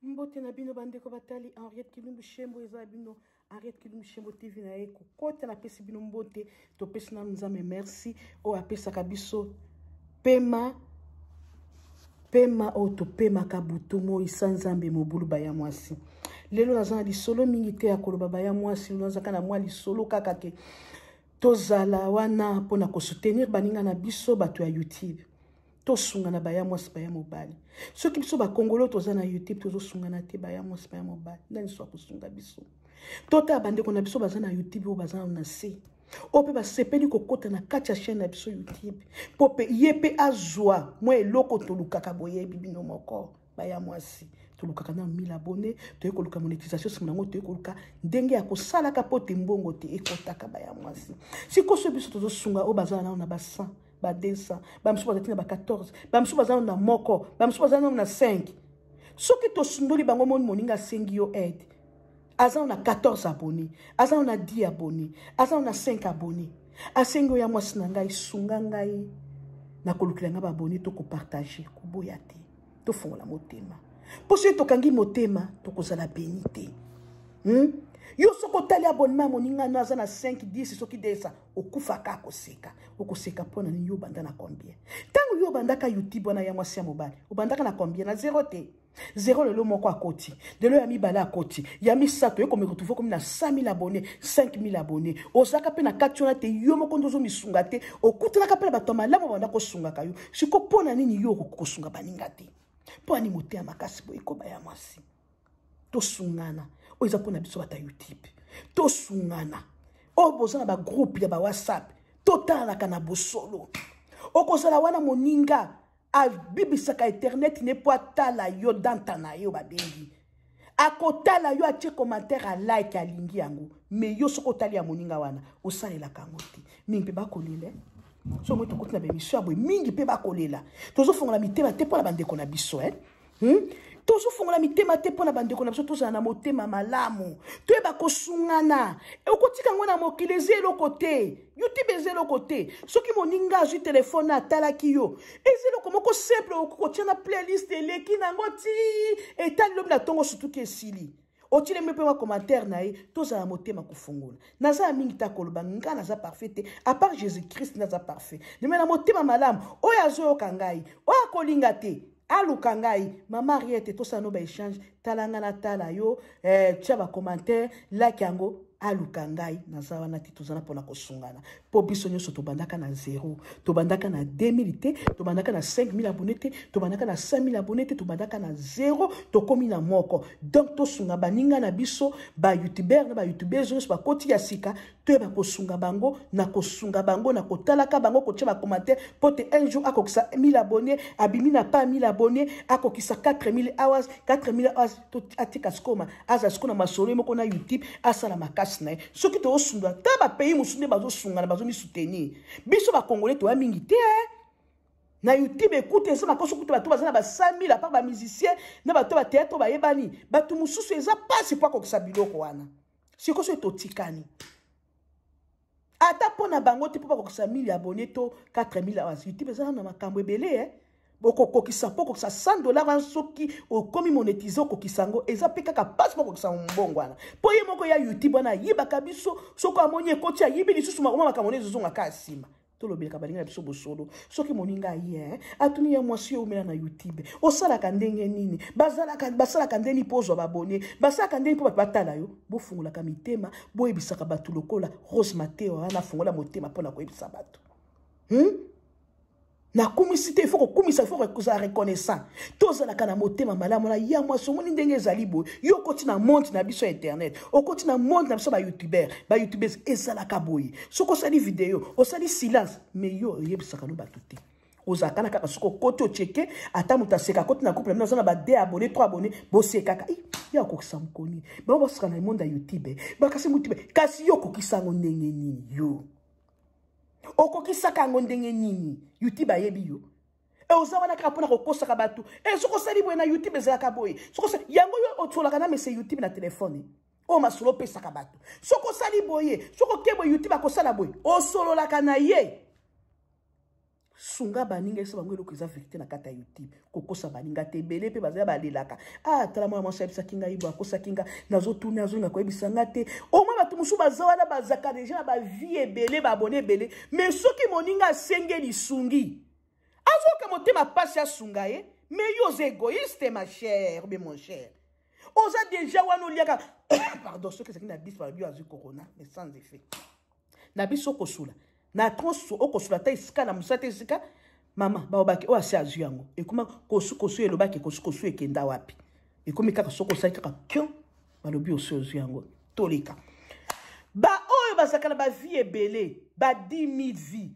mbote na bino bandeko batali henriette kilumbu shembo eza bino henriette kilumbu shembo tv na ye kokota napesi bino mbote topesi nanu nzambe merci oyo apesaka biso pema pema oyo topemaka butu moi sa nzambe mobulu baya mwasi lelo naza na lisolo mingi te ya koloba baya mwasi lelo nazaka na mwa lisolo kaka ke tozala wana mpona kosoutenir baninga na biso bato ya youtube tosungana baya mwasi baya mobali soki biso bakongolo toza na youtube tozosungana te baya mwasi baya mobali nani so akosunga biso totala bandeko na biso baza na youtube oyo baza na se oyo mpe basepeli kokota na kati ya chaine na biso youtube mpo mpe ye mpe azwa mwa eloko tolukaka boyebi bino moko baya mwasi tolukaka na 1000 abonne toyei koluka monétisation nsima nango toyei koluka ndenge ya kosalaka mpo te mbongo te ekotaka baya mwasi sikoyo so biso tozosunga oyo bazala nano na ba 100 ba 200 bamisusu bazali ti na ba 14 bamisusu baza nano na moko bamisusu baza nano na 5 soki tosundoli bango moni moninga asengi yo aide aza na 14 abonne aza na 10 abonne aza na 5 abonne asengi oyo ya mwasi na ngai sunga ngai nakolukela ngai babone to kopartage koboya te tofungola motema mpo soki tokangi motema tokozala beni te hmm? yo soki otali abonema ya moninga no aza na 5 10 soki desa okufaka akoseka okoseka mpo na nini yo obanda na combien ntango yo obandaka youtube wana ya mwasi ya mobali obandaka na combien na zero te zero lelo moko akoti lelo ya mibale akoti ya misato ye komiretrouve komi na 100000 abonne 5000 abonne ozalaka mpe na kati wana te yo moko nde ozomisunga te okutanaka mpe na bato ya malamu banda kosungaka yo siko mpo na nini yo okoki kosunga baninga te mpo ani moteya makasi boye koba ya mwasi tosungana oyo eza mpo na biso bata youtube tosungana oyo boza na bagroupe ya bawhatsapp totalanaka na bosolo okozala wana moninga abibisaka eterneti ne mpo atala yo danta na yo babengi akotala yo atie commentaire a like alingi yango mais yo soki otali ya moninga wana osalelaka yango te mingi mpe bakolela so moi tokoti na bemission ya boye mingi mpe bakolela tozofongola mitema te mpo na bandeko na biso eh? hmm? tozofongola mitema te mpo na bandeko na biso tozala na motema malamu toyeba kosungana okotika yango na mokili eza eloko te youtube eza eloko te soki moninga azwi telefone atalaki yo eza eloko moko simple okoki kotya na playlist eleki na yango ti etali lobi na ntongo sutuki esili otilemi mpe bacommentaire na ye tozala motema kofungola naza ya mingi ta koloba ngai naza parfait te apart jésus christ naza parfait meme na motema malamu oyo azoyoka ngai oyo akolinga te aluka ngai mama ariete tosala no baechange tala ngai natala yo eh, tya bacommentaire laki yango aluka ngai naza wana te toza na mpona kosungana mpo biso nyonso tobandaka na zero tobandaka na 2000 te tobandaka na 5000 abone te tobandaka na 5000 abone te tobandaka na zero tokomi na moko donc tosunga baninga na biso bayoutubeur na bayoutubeur nyonso bakoti ya sika toyeba kosunga bango na kosunga bango na kotalaka bango kotya bakoma te mpo te un jour akokisa 1000 abonne abimi na pa 1000 abonne akokisa 4000 hours 4000 hours atika sikoma aza siko na masolo ye moko na youtube asala makasi na ye soki tozosunga ta bapays mosusu nde bazosungana bazomisutenir biso bakongole toya mingi te eh. na youtube ekuta eza makoso kuta bato baza na ba 5000 apart bamusicien na bato ya bateatre bayebani bato mosusu eza mpasi mpo akokisa biloko wana siko soki totikani ata mpo na bango te mpo bakokisa 1000 abonne to 4000 awa youtube ezala na makambo ebele e bokokokisa mpo okokisa 100 dollar wana soki okomi monetize okokisa yango eza mpe kaka mpasi mpo okokisa mbongo wana mpo ye moko ya youtube wana ayibaka biso soki amoni ekoti ayibi lisusu makoma makambo nde ezozonga kaka nsima tolobelaka baninga na biso bosolo soki moninga ye eh, atuni ya mwasi yo omela na youtube osalaka ndenge nini bazalaka basalaka nde nini mpo ozwa babone basalaka nde nini mpo bato batala yo bofungolaka mitema boyebisaka bato lokola rose mateo wana afungola motema mpo na koyebisa bato hmm? nakumisi te ifo kokumisa ifo kozala reconnaissant tozalaka na motema malamu na ya mwasi omoni ndenge ezali boye yo okoti na monde na biso ya internet okoti na monde na biso bayoutubeur bayoutubers ezalaka boye soki osali video osali silence me yo oyebisaka no bato te ozalaka na kaka soki okoti ocheke ata moto aseka akoti na couple mino aza na ba de abonne tro abonne bosekaka ye akokisa mokoni bango baseka na monde ya youtube bakasi motibe kasi yo okokisa yango ndenge nini yo okokisaka yango ndenge nini youtube ayebi yo e oza wana kaka mpona kokosaka bato e soki osali boye na youtube ezalaka boye soki yango yo otiolaka na mese youtube na telefone oyo masolo opesaka bato soki osali boye soki oke boye youtube akosala boye osololaka na ye sunga baninga esa bango eloko eza verité na kati ya youtube kokosa baninga te ebele mpe bazali balelaka ah tala mwana mwasi ayebisaki ngai bo akosaki nga nazotuna azonga koyebisa nga te omoi bato mosusu baza wana bazaka deja na bavie ebele babone ebele me soki moninga asenge lisungi azoka motema mpasi asunga ye me yo oza egoïste ma chère be mon chère oza deja wana oliaka pardon soki ezalaki na biso balobi azwi corona mais sans effet na biso okosula na tronso okosula ata esika na mosala te esika mama baobaki oyo asi azwi yango ekoma kosukosu elobaki kosukosu ekenda wapi ekomi kaka soki osali kaka kio balobi osi ozwi yango toleka baoyo bazalaka na bavie ebele ba 10 000 vie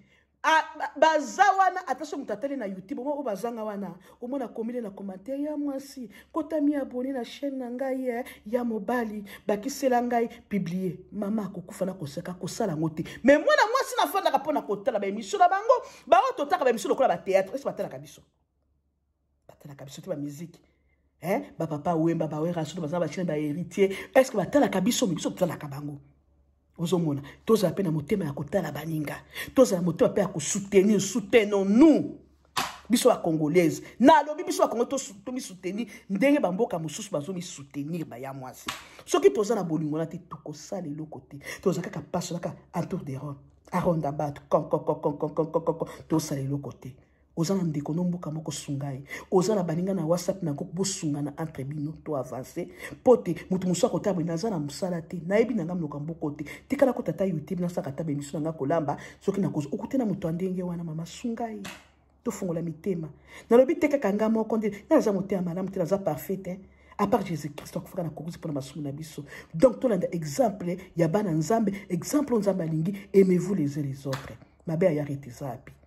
baza wana ata so moto atali na youtube omo oyo bazanga wana omona komile na commentaire ya mwasi kotami abone na chaîne na ngai eh, ya mobali bakisela ngai publie mama akokufa na koseka kosala yango te mais mwana mwasi nafandaka mpo na kotala baemission na bango baoyo totaka baemission lokola bateatre esi batalaka biso batalaka biso te bamiziki eh? bapapa wemba bawera soto baza bachine baheritier est ce que batalaka biso me biso totalaka bango ozomona tozala mpe na motema ya kotala baninga tozala motema mpe ya kosoutenir soutenons nous biso bacongolaise nalobi biso bakongo tomisoutenir ndenge bamboka mosusu bazomisoutenir baya mwasi soki toza na bolingo na te tokosala eloko te toza kaka paso naka entour de ron aronda bato konkonkonkonkonkonkonkonko tosala eloko te oza na ndeko no mboka moko sunga ye oza na baninga na whatsapp na groupe bosungana entre bino to avance mpo te moto mosusu akotala boye naza na mosala te nayebi na ngai minoka mboko te tikala ko tata youtube nasaka ata bemiso na ngai kolamba soki nakozi okute na moto ya ndenge wana mama sunga ye tofungola mitema nalobi te kaka ngai moko nde naza motema malamu te naza parfait te à part jésus christ akufaka na kokuzi mpo na masumu na biso donc tolanda exemple ya bana nzambe exemple oyo nzambe alingi aimez vous les uns les autres mabe ayarete eza api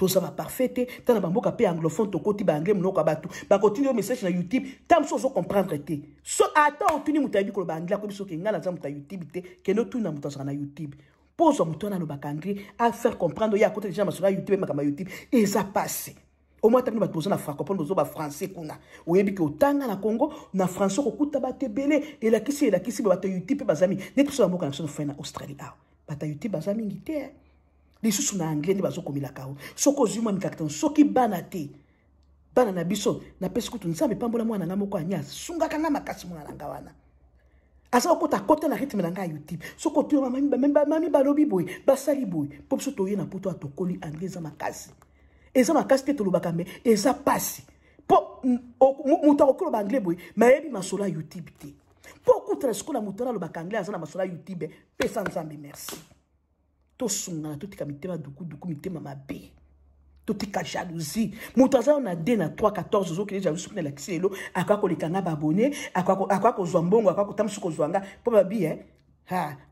toza ba parfait te tala ba mboka pe anglophone tokoti ba anglais munoko batu bakotini yo message na youtube ta mosusu ozo comprendre te so ata otuni moto ayebi koloba anglais akoyebi soki ngai naza moto ya youtube te kende otuna moto azalaka na youtube mpo ozwa moto wana alobaka anglais afaire comprendre ye akota deja na masolo ya youtube makambo ya youtube eza pasi omoi ata bino bato boza na francopone bozo bafrançais kuna oyebi ke otanga na congo na français okokuta bato ebele elakisi elakisi bato ya youtube mpe bazami neti biso na mboka na biso na fai na australie awa bato ya youtube baza mingi te lisusu na anglais nde bazokomelaka yo soki ozwi mwa mikakatano soki bana te bana na biso napesi kutu nzambe epambola mwana ngai moko anya asungaka ngai makasi mwana na ngai wana aza kokota akota na rythme na ngai ya youtube soki otoyo bamami balobi boye basali boye mpo biso toye na poto atokoli anglais eza makasi eza makasi te tolobaka me eza mpasi mpo moto akoki loba anglais boye mayebi masolo ya youtube te mpo okutana sikoyo na moto wana alobaka anglais aza na masolo ya youtube pesa nzambe merci tosungana totika mitema dukuduku mitema mabe totika jalousie moto aza yo na 2 na 3 14 ozokende jalousie kuna elakisi lelo akoya koleka nga babone akoya kozwa mbongo akoya kotambusi kozwa nga mpo babi e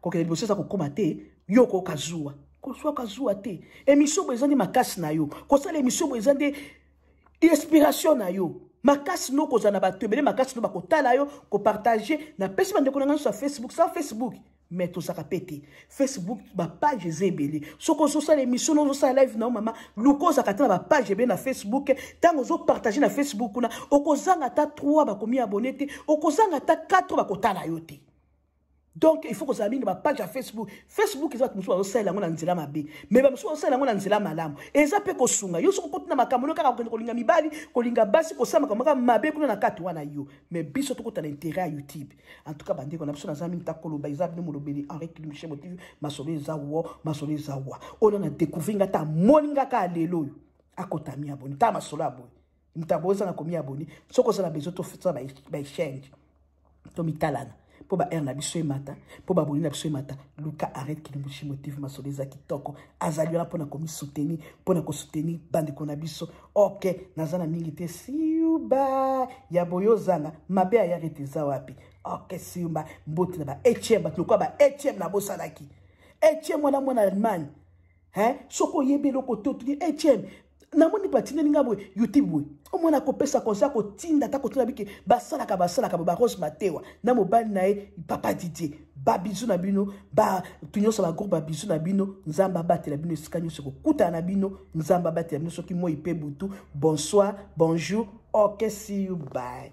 kokende liboso eza kokóma te yo okoyoka zuwa kozwa kazuwa te emission boye eza nde makasi na yo kosala emission boye eza nde inspiration na yo makasi no kozala na bato ebele makasi no bakotala yo kopartage napesi bandeko na ngai nyonso ya facebook sa facebook me tozaka mpe te facebook bapage eza ebele soki ozosala émission na ozosala live na yo mama luka ozalaka te na bapage ebele na facebook ntango ozopartage na facebook kuna okozanga ata 3 bakomi abone te okozanga ata 4 bakotala yo te donc il faut kozala mingi bapage ya facebook facebook eza bato mosusu bazosalela yango na nzela mabe mai bamosusu bazosalela yango na nzela malamu eza mpe kosunga yo soki okoti na makambo no kaka kokende kolinga mibali kolinga basi kosala makambo kaka mabe kuna na kati wana yo mai biso tokota na interet ya youtube en tout cas bande kona biso naza mingi takoloba eza bino molobeli henri kilimshe motivi masolo eza wo masolo eza wa oyo na découvrir nga ta moni nga ka lelo oyo akota mi aboni ta masolo aboyi mtabo oza na komi aboni soki oza na besoin tofutisa ba exchange to mitalana mpo ba heure na biso emata mpo baboni na biso emata luka arrete kilimbushi motive masolo eza kitoko azali wana mpo na komisoutenir mpo na kosoutenir bandeko na biso ok naza na mingi te siuba ya boye ozanga mabe ayaka ete eza wapi ok siumba mbote na ba atm bato lokola ba atm nabosanaki atm wana mwana allemagne soki oyebi eloko te otuni atm namoni batindeli nga boye youtube boye omwana akopesa conseil akotinda ata kotuna bike basalaka basalaka boye barose matewa na mobali na ye papa didie ba bizu na bino ba tunyosa ba groupe ba bizu na bino nzamba batela bino esika nyoso ko kuta na bino nzamba batela bino soki moi pe butu bonsoir bonjour okay see you bye